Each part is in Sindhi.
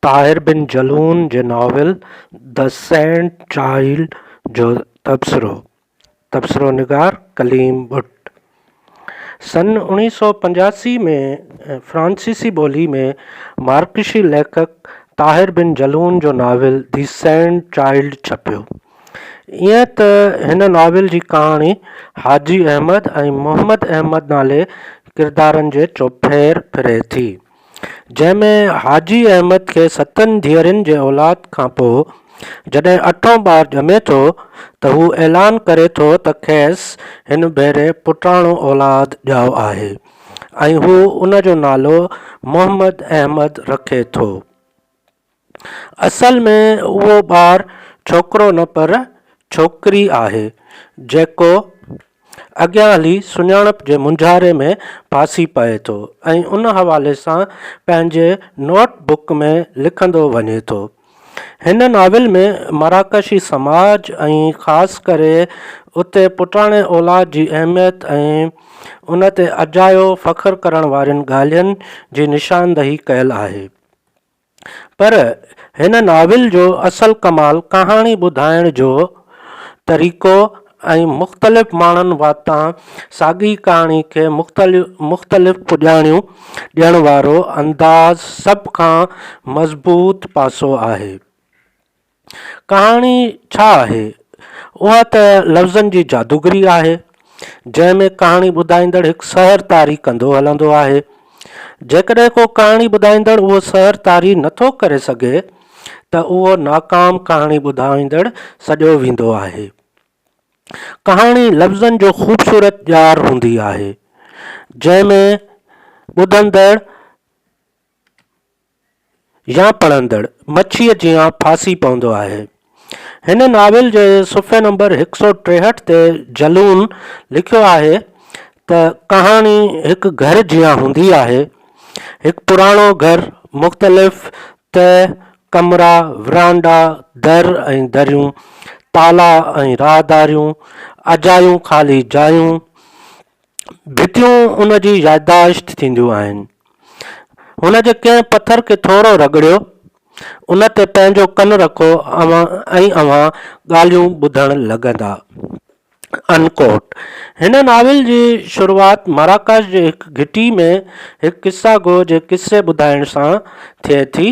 طاهر بن جلون جي ناول The Saint Child جو تبصرو، تبصرو نگار ڪليم ٻٽ سن اوڻيهه سؤ پنجاسي ۾ فرانسيسي ٻولي ۾ مارڪشي ليکڪ طاهر بن جلون جو ناول The Saint Child ڇپيو. ائين ته هن ناول جي ڪهاڻي حاجي احمد ۽ محمد احمد نالي ڪردارن جي چوڦير ڦري ٿي. جنهن ۾ حاجي احمد کي ستن ڌيئرين جي اولاد کان پوء جڏهن اٺون ٻار ڄمي ٿو ته هو اعلان ڪري ٿو ته کيس هن ڀيري پٽاڻو اولاد ڄائو آهي ۽ هو ان جو نالو محمد احمد رکي ٿو. اصل ۾ اهو ٻار ڇوڪرو نه پر ڇوڪري آهي جيڪو اڳيان هلي سڃاڻپ جي مونجهاري ۾ ڦاسي پئي ٿو ۽ ان حوالي سان پنهنجي نوٽ بڪ ۾ لکندو وڃي ٿو هن ناول ۾ مراڪشي سماج ۽ خاص ڪري اتي پٽاڻي اولاد جي اهميت ۽ ان تي اجايو فخر ڪرڻ وارين ڳالهين جي نشاندهي ڪيل آهي پر هن ناول جو اصل ڪمال ڪهاڻي ٻڌائڻ جو طريقو ۽ مختلف ماڻهن واتان ساڳي ڪهاڻي کي مختلف پڄاڻيون ڏيڻ وارو انداز سڀ کان مضبوط پاسو آهي. ڪهاڻي ڇا آهي؟ اها ته لفظن جي جادوگري آهي، جنهن ۾ ڪهاڻي ٻڌائيندڙ هڪ سحر طاري ڪندو هلندو آهي. جيڪڏهن ڪو ڪهاڻي ٻڌائيندڙ اهو سحر طاري نه ٿو ڪري سگهي ته اهو ناڪام ڪهاڻي ٻڌائيندڙ سڏيو ويندو آهي. ڪهاڻي لفظن جو خوبصورت ڄار هوندي آهي، جنهن ۾ ٻڌندڙ، يا پڙهندڙ مڇيء جيان ڦاسي پوندو آهي. هن ناول جي صفحي نمبر هڪ سؤ ٽيهٺ تي جلون لکيو آهي ته ڪهاڻي هڪ گهر جيان هوندي آهي. هڪ پراڻو گهر، مختلف تهه، ڪمرا، ورانڊا، در ۽ دريون، تالا ۽ راهداريون، اجايون خالي جايون، ڀتيون ان جي يادداشت ٿينديون آهن. هن جي ڪنهن پٿر کي ٿورو رڳڙيو، ان تي پنهنجو ڪن رکو ۽ اوهان ڳالهيون ٻڌڻ لڳندا. Unquote هن ناول جي شروعات مراڪش جي هڪ گهٽي ۾ هڪ قصه گو جي قصي ٻڌائڻ سان ٿئي ٿي.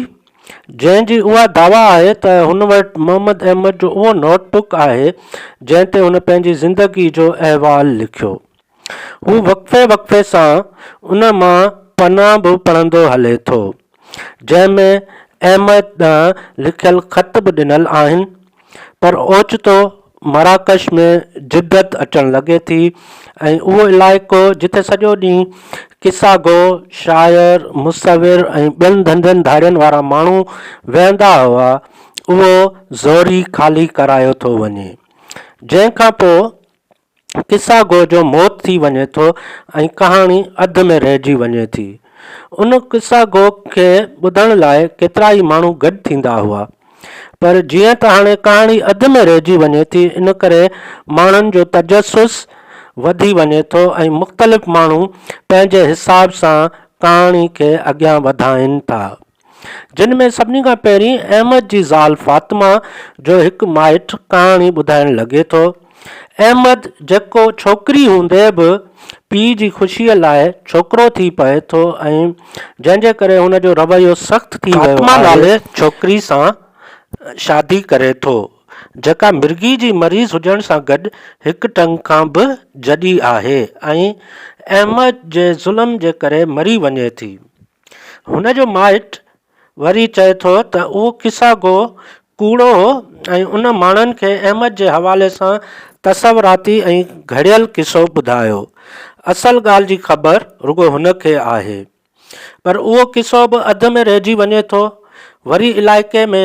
جنهن جي اها دعويٰ آهي ته هن وٽ محمد احمد جو اهو نوٽ بڪ آهي، جنهن تي هن پنهنجي زندگيء جو احوال لکيو. هو وقفي وقفي سان ان مان پنا به پڙهندو هلي ٿو، جنهن ۾ احمد ڏانهن لکيل خط به ڏنل آهن. پر اوچتو مراڪش ۾ جدت اچڻ لڳي ٿي ۽ اهو علائقو جتي سڄو ڏينهن قصا گو، شاعر، مصور ۽ ٻين ڌنڌن ڌاڙين وارا ماڻهو ويهندا هئا، اهو زوري خالي ڪرايو ٿو وڃي. جنهن کان پوء قصه گو جو موت ٿي وڃي ٿو ۽ ڪهاڻي اڌ ۾ رهجي وڃي ٿي. ان قصه گو کي ٻڌڻ لاء ڪيترائي ماڻهو گڏ ٿيندا هئا. پر جيئن ته هاڻي ڪهاڻي اڌ ۾ رهجي وڃي ٿي ان ڪري ماڻهن جو تجسس وڌي وڃي ٿو ۽ مختلف ماڻهو پنهنجي حساب سان ڪهاڻي کي اڳيان وڌائين ٿا. جن ۾ سڀني کان پهرين احمد جي زال فاطمه جو هڪ مائٽ ڪهاڻي ٻڌائڻ لڳي ٿو. احمد جيڪو ڇوڪري هوندي به پيء جي خوشيء لاء ڇوڪرو ٿي پوي ٿو ۽ جنهن جي ڪري هن جو رويو سخت ٿي ويو آهي. فاطمه نالي ڇوڪري سان شادي ڪري ٿو جيڪا مرگي جي مريض هجڻ سان گڏ هڪ ٽنگ کان به جڏي آهي ۽ احمد جي ظلم جي ڪري مري وڃي ٿي. هن جو مائٽ وري چئي ٿو ته اهو قصه گو ڪوڙو هو ۽ ان ماڻهن کي احمد جي حوالي سان تصوراتي ۽ گهڙيل قصو ٻڌايو. اصل ڳالهه جي خبر رڳو هن کي آهي. پر اهو قصو به اڌ ۾ رهجي وڃي ٿو. وري علائقي ۾.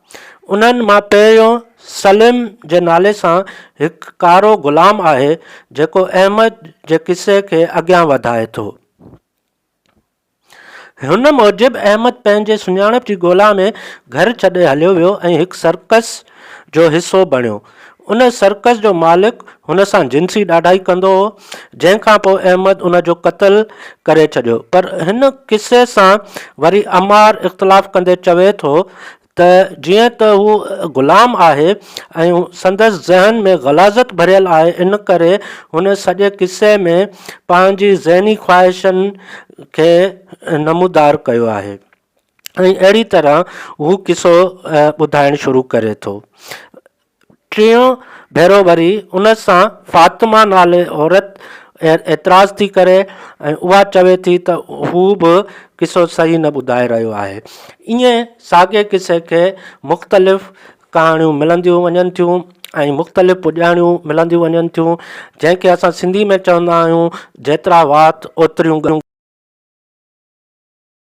انهن مان پهريون سليم جي نالي سان هڪ ڪارو غلام آهي، جيڪو احمد جي قصي کي اڳيان وڌائي ٿو. هن موجب احمد پنهنجي سڃاڻپ جي ڳولا ۾ گهر ڇڏي هليو ويو ۽ هڪ سرڪس جو حصو بڻيو. ان سرڪس جو مالڪ هن سان جنسي ڏاڍائي ڪندو هو، جنهن کان پوء احمد ان جو قتل ڪري ڇڏيو. پر هن قصي سان وري عمار اختلاف ڪندي چوي ٿو ته جيئن ته هو غلام آهي ۽ سندس ذهن ۾ غلاظت ڀريل آهي ان ڪري هن سڄي قصي ۾ پنهنجي ذهني خواهشن کي نمودار ڪيو آهي. ۽ اهڙي طرح هو قصو ٻڌائڻ شروع ڪري ٿو. ٽيون ڀيرو وري ان سان فاطمه نالي عورت اعتراض ٿي ڪري ۽ اها چوي ٿي ته هو به قصو صحيح نه ٻڌائي رهيو آهي. ائين ساڳئي قصي کي مختلف ڪهاڻيون ملنديون وڃن ٿيون ۽ مختلف پڄاڻيون ملنديون وڃن ٿيون، جنهن کي اسان سنڌي ۾ چوندا آهيون، جيترا وات اوتريون ڳالهيون.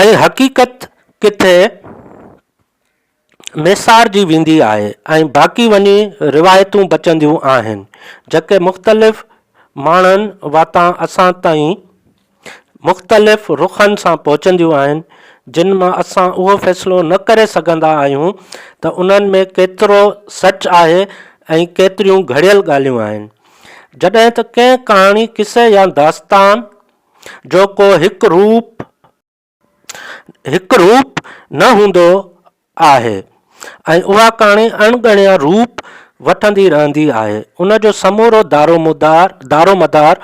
۽ حقيقت ڪٿي ميسارجي ويندي آهي ۽ باقي وڃي روايتون بچنديون آهن جيڪي مختلف ماڻهن واتان اسان تائين مختلف رخن سان پهچنديون آهن جن مان اسان اهو فيصلو نه ڪري سگهندا آهيون ته انهن ۾ ڪيترو سچ آهي ۽ ڪيتريون گهڙيل ڳالهيون آهن جڏهن ته ڪنهن ڪهاڻي قصي يا داستان جو ڪو هڪ روپ هڪ روپ نه هوندو آهي ۽ اها ڪهاڻي اڻ ڳڻيا روپ وٺندي رهندي آهي. ان جو سمورو دارومدار دارومدار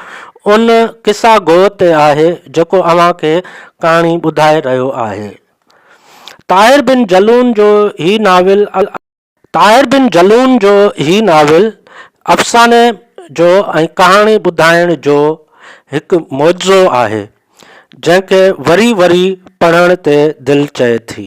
ان قصا گو تي آهي جيڪو اوهان کي ڪهاڻي ٻڌائي رهيو آهي. طاهر بن جلون جو هي ناول طاهر بن جلون جو هي ناول افساني جو ۽ ڪهاڻي ٻڌائڻ جو هڪ معجزو آهي، جنهن کي وري وري پڙهڻ تي دل چئي ٿي.